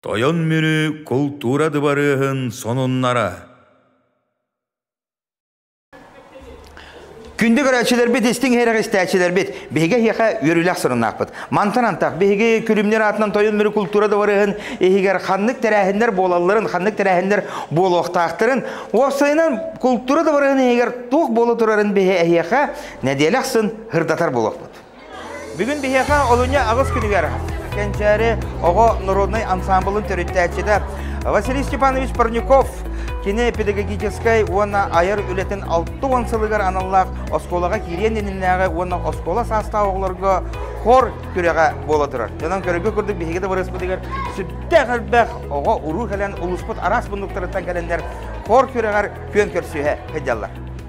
Тойон Мүрү култуура дыбарыаһын сонуннара Күндү көрөөччүлэрбит, истиҥ иһирэх истээччилэрбит, биһиги эһиэхэ үөрүүлэх сырынаахпыт. Мантан антах биһиги күлүмнэр аатынан Тойон Мүрү култуура дыбарыаһын иһигэр ханнык тэрээһиннэр буолалларын, ханнык тэрээһиннэр буолуохтаахтарын, уопсайынан култуура дыбарыаһын иһигэр туох буола турарын биһи эһиэхэ нэдиэлэ ахсын хырдатар буолуохпут. Бүгүн биһиэхэ олунньу аҕыс күнүгэр Кэнчээри оҕо норуодунай ансаамбылын төрүттээччитэ Василий Степанович Парников кини педагогическай уонна айар үлэтин алта уон сылыгар аналлаах оскуолаҕа киириэн иннинээҕи уонна оскуола саастаах оҕолорго хор күрэҕэ буола турар. Дьонон көрөргө курдук биһиги табарыспытыгар сүрдээх элбэх оҕо уруу кэлэн улууспут араас муннуктарыттан кэлэннэр хор күрэҕэр күөн көрсүһэ сылдьаллар.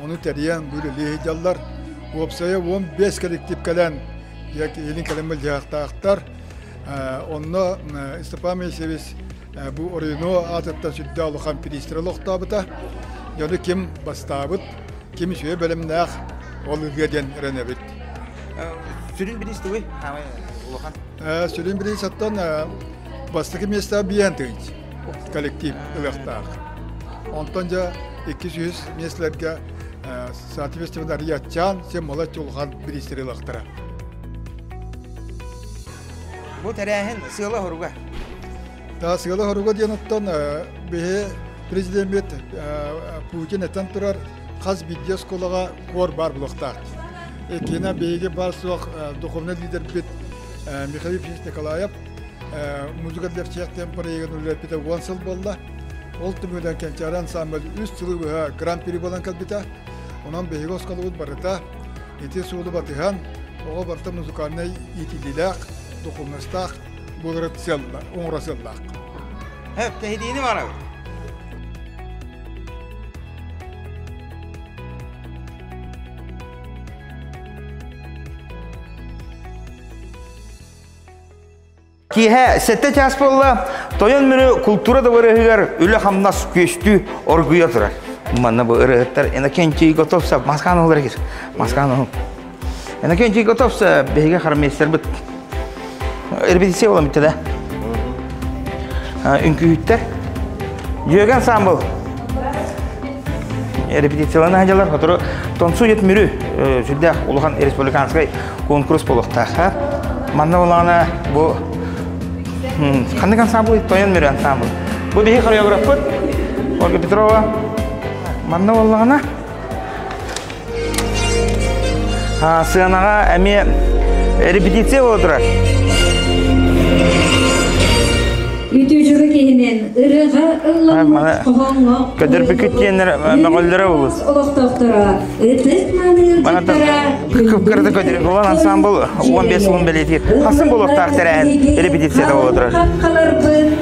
Ону тэрийэн үлэлии дьаллар. Уопсайа уон биэс коллектив кэлэн илин кэлэн мылдьыһахтаахтар. Онно Степан Мейсевич бу Орюно аатыттан сүрдээх улахан пристрел олохтообута. Дьону ким бастаабыт, ким үсүө бэлэмнээх ол ырыа диэн эрэнэбит. Сүрүн бириис тугуй? Улахан. Сүрүн бириис оттон бастакы места биээн тыынч. коллектив ылыахтаах. Онтон дьэ икки сүүс миэстэлэргэ соответственно арыйаччаан син молочь улахан бириистери ылыахтара. Бу тэрээһин сыала-соруга. Да сыала-соруга диэн оттон биһи президеммит Путин этэн турар хас бидде осколаға қор бар бұлықтақ. Екені биһиги бар соқ духовный лидербит Михаил Ильич Николаев музыка для всех тем проектын үлэппитэ уон сыл болла ол түмүгүнэн кэнчээри ансамбль үс сылы быһа гран-при буолан кэлбитэ онон биһиги осколобут барыта ити суолу батыһан оҕо барыта музыкальнай иитиллиилээх духовностаах буолара сыалла оҥоро сыаллаах Тэһитиини барабыт Киэһэ сэттэ чаас буолла, тойон мүрү култуура дабарыаһыгар үлэ-хамнас күөстүү оргуйа турар. Манна бу ырыаттар Иннокентий Готовса маскан оһолор эгир. Маскан оһол. Иннокентий Готовса биһиги хармейстербит. Репетиция болан бүттэ да. Үҥкүүһүттэр. Дьүөгэн Самбыл. репетициялаах дьалар сотору тонсует мүрү сүрдээх улахан республиканскай конкурс болуқтаха манна олана бу ханнык ансамбль тоян мүрү ансамбль бу биһи хореографпыт ольга петрова манна оллана Сыанаҕа эмиэ репетиция буола турар. Үтүжүрү киһинин ырыга ылламмат хоһоҥҥо көдөрбүкүт диэннэр мөҕөллөрө болус. Олохтохторо ытык маныырдыктара кыпкырды көдөрү болан ансамбл 15 улун бэлиэтиир. Хасан болуохтаах тэрээһин репетицията буола турар.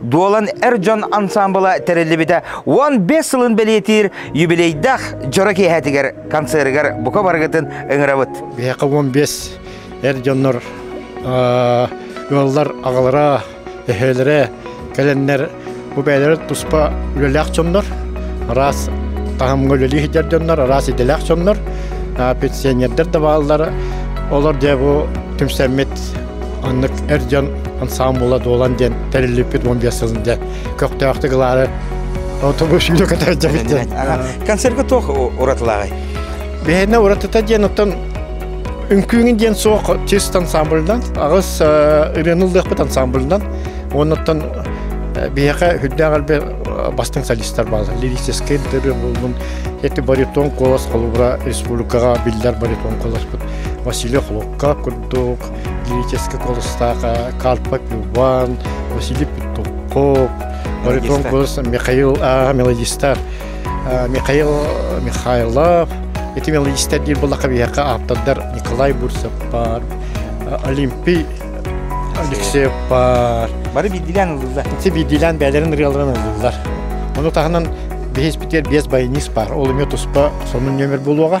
Дуолан эр дьон ансаамбыла тэриллибитэ уон бес сылын бэлиэтиир юбилейдах дьоро киэһэтигэр концерыгар бука барыгытын ыҥырабыт. Биһиэхэ уон бес эр дьоннор ыаллар аҕалара, эһээлэрэ кэлэннэр бу бэйэлэрэ туспа үлэлээх дьоннор, араас таһымҥа үлэлии сылдьар дьоннор, араас идэлээх дьоннор, пенсионердэр да бааллар. Олор дьэ бу түмсэммит Оннук эр дьон ансаамбыла дуолан диэн тэриллиппит уон биэс сылын дьэ көхтөөхтүк ылаары отобус сүүрэ көтөрдөбүт Концертка туох уратылааҕый? Бэһэнэ уратыта диэн оттон үҥкүүҥүн диэн суох чист ансамбльдан аҕыс ырыаныллыахпыт ансамбльдан оннуттан биһиэхэ үрдээх эрбэ бастыҥ солистар баалар лирическэй ырыа булбун эти баритон колос холобура республикаҕа биллэр баритон колоспут Василий Холов курдук лирический голостаха Карпа Иван, Василий Петуков, баритон голос Михаил а, мелодистар Михаил Михайлов. Эти мелодистер диир булака биһэка ааптардар Николай Бурсов бар, Олимпий Алексеев бар. Бары биирдилээн ылыллар. Ити биирдилээн бэйэлэрин ырыаларын ылыллар. Ону таһынан бэһис битер биэс байнист бар. Ол эмиэ туспа сонун нөмер болуоға.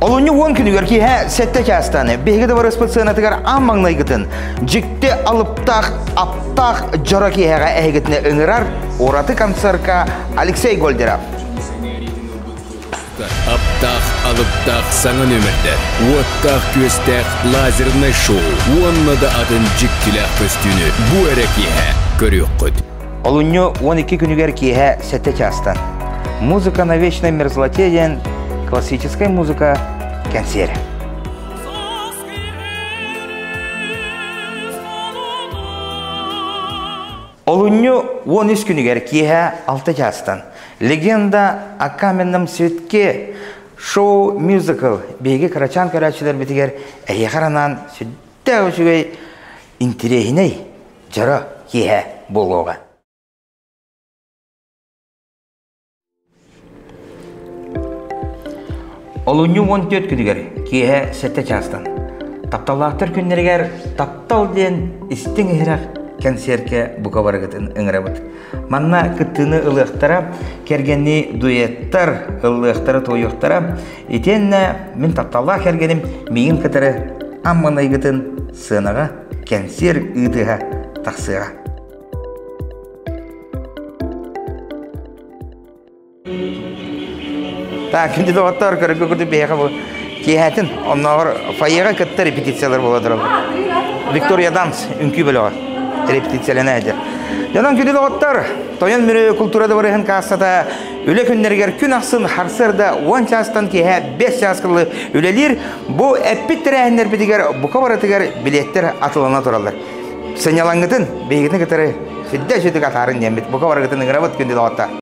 Олунньу уон күнүгэр киэһэ сэттэ чаастан биһиги дабарыспыт сыанатыгар аан маҥнайгытын дьикти алыптаах аптаах дьоро киэһэҕэ эһигитинэ ыҥырар ураты концертка Алексей Гольдеров. Аптаах алыптаах саҥа нөмөрдэр, уоттаах күөстээх лазернай шоу уонна да атын дьиктилээх көстүүнү бу эрэ киэһэ көрүөххүт. Олунньу уон икки күнүгэр киэһэ сэттэ чаастан «Музыка на вечное мерзлоте» диэн классическай музыка кэнсиэрэ. Олунньу уон үс күнүгэр киэһэ алта чаастан «Легенда о каменном цветке» шоу-мюзикл биһиги кырачаан көрөөччүлэрбитигэр эйиэхэ анаан сүрдээх үчүгэй интириэһинэй Дьоро киэһэ буолуоҕа Олунньу уон түөрт күнүгэр киэһэ сэттэ чаастан тапталлаахтар күннэригэр таптал диэн истиҥ иһирэх кэнсиэркэ бука барыгытын ыҥырабыт. Манна кыттыыны ылыахтара, кэргэнни дуэттар ылыахтара, туойуохтара. Итиэннэ мин тапталлаах кэргэним миигин кытары амманайгытын сыанаҕа кэнсиэр ыытыһа тахсыаҕа. Так, күндү доҕоттор, көрөргө курдук бэйэҕэ бу киэһэтин оннооҕор фойеҕа кытта репетициялар буола тураллар. Виктория Дамс үҥкүү бөлөҕө репетициялана этэ. Дьонон күндү доҕоттор, Тойон Мүрү култуура дыбарыаһын кассата үлэ күннэригэр күн ахсын харсыарда уон чаастан киэһэ бэс чаас кылы үлэлиир Бу эппит тэрээһиннэрбитигэр бука барытыгар билеттэр атылана тураллар. Сынньалаҥгытын, биһигитин кытары сирдэ үчүгүтүк атаарын диэммит бука барыгытын ыҥырабыт күндү доҕоттор.